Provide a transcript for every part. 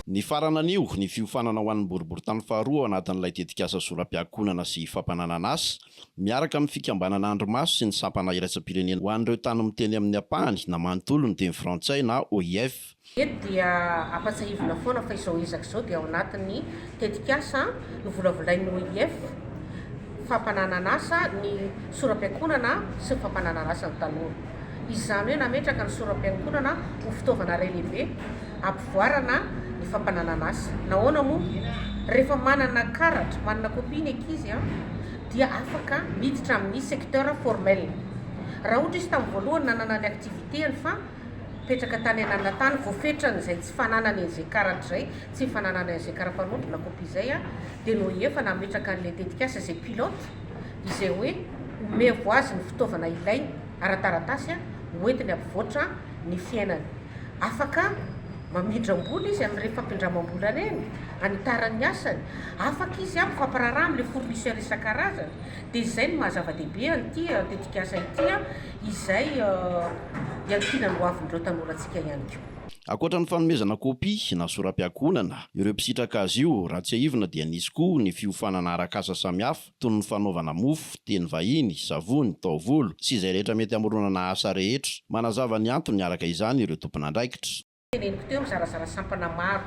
Nifarana anio ny fiofanana ho an'ny boriborintany faharoa ao anatin'ilay tetikasa Zoram-piankohonana sy fampananana asa, miaraka amin'ny Fikambanana Andrimaso sy ny Sampana Iraisam-pirenena ho an'ireo Tany Miteny Amin'ny Ampahany na Manontolo ny teny frantsay na OIF. Eto dia ampatsahivina foana fa izao ezaka izao dia ao anatin'ny Tetikasa novolavolain'ny OIF, Fampananan'asa ny soram-piankonana sy ny fampananan'asa ny tanora. Izany hoe nametraka ny soram-piankonana ho fitaovana iray lehibe hampivoarana ny fampananan'asa. Nahoana moa? Rehefa manana karatra, manana copie ny ankizy dia afaka miditra amin'ny secteur formel. Raha ohatra izy tamin'ny voalohany nanana ny activité-ny fa mipetraka tany ananana tany, voafetran'izay tsy fananany an'izay karatra izay, tsy fananana ingénieur afa-roatra na kopia izay an, dia noho efa nametraka an'ilay tetikasa izay pilote izay hoe omevo azy ny fitaovana ilainy ara-taratasy an, hoentiny hampivoatra ny fiainany. Afaka mamindram-bola izy amin'ireny fampindramam-bola ireny hanitarany ny asany, afaka izy an mifampiraharaha amin'ilay fournisseur isan-karazany, dia izay no maha-zava-dehibe an'ity tetikasa ity an, izay iankinan'ny hoavin'ireo tanorantsika ihany koa. Ankoatra ny fanomezana kopia na sora-piankohonana ireo mpisitraka azy io, raha tsiahivina dia nisy koa ny fiofanana arak'asa samihafa toy ny fanaovana mofo, teny vahiny, savony, taovolo sy izay rehetra mety hamoronana asa rehetra. Manazava ny antony araka izany ireo tompon'andraikitra. Teneniko teo mizarazara sampana maro,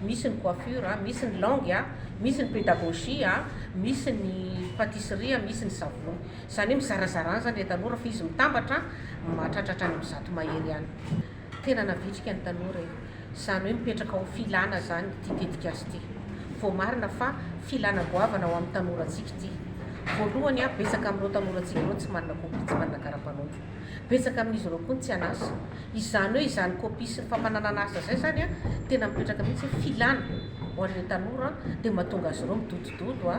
misy ny coiffure, misy ny langue, misy ny pédagogie, misy ny pâtisserie, misy ny savony. Izany hoe mizarazara any izany ilay tanora fa izy mitambatra mahatratratra any amin'ny zato mahery any. Tena navitrika ny tanora e! Izany hoe mipetraka ho filana izany ity tetikasa ity. Voamarina fa filana goavana ho amin'ny tanorantsika ity. Voalohany, betsaka amin'ireo tanorantsika ireo tsy manana kopia, tsy manana kara-panondro. Betsaka amin'izy ireo koa ny tsy an'asa. Izany hoe izany kopia sy ny fampananana asa izay izany tena mipetraka mihitsy hoe filana ho an'ireo tanora dia mahatonga azy ireo midodododo,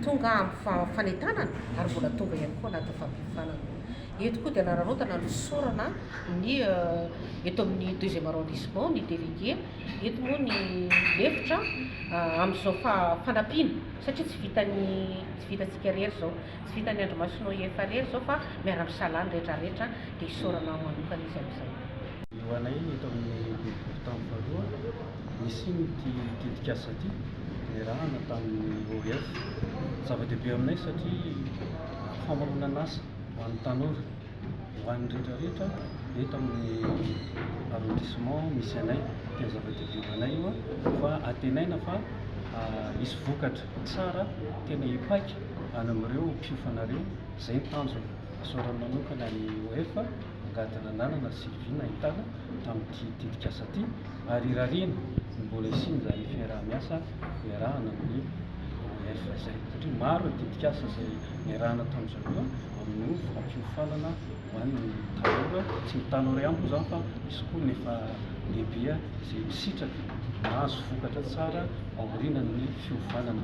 tonga amin'ny fanentanana ary mbola tonga ihany koa anatin'ny fampiofanana. Eto koa dia nanararaotana ny fisaorana ny eto amin'ny deuxième arrondissement ny délégué. Eto moa ny lefitra amin'izao fanampiana satria tsy vitan'ny tsy vitantsika irery izao, tsy vitan'ny Andrimasonao IEF irery izao fa miara-misalahy ny rehetra rehetra dia isaorana aho manokana izy amin'izay. Ho anay eto amin'ny boribory tany faharoa nisian'ity tetikasa ity niarahana tamin'ny OIF. Zava-dehibe aminay satria famoronan'asa ho an'ny tanora, ho an'ny rehetra rehetra eto amin'ny arrondissement misy anay, dia zava-dehibe ho anay io fa antenaina fa hisy vokatra tsara tena hipaika any amin'ireo mpiofanareo, izay ny tanjona. Isaorana manokana ny OF. Mangataka lalana sy vina hitana amin'ity tetikasa ity ary irariana ny mbola hisian'izany fiaraha-miasa iarahana amin'ny OIF izay satria maro ny tetikasa izay niarahana tamin'izao io amin'io fampiofanana ho an'ny tanora, tsy ny tanora ihany moa izany fa misy koa ny efa lehibe izay misitraka mahazo vokatra tsara aorianan'ny fiofanana.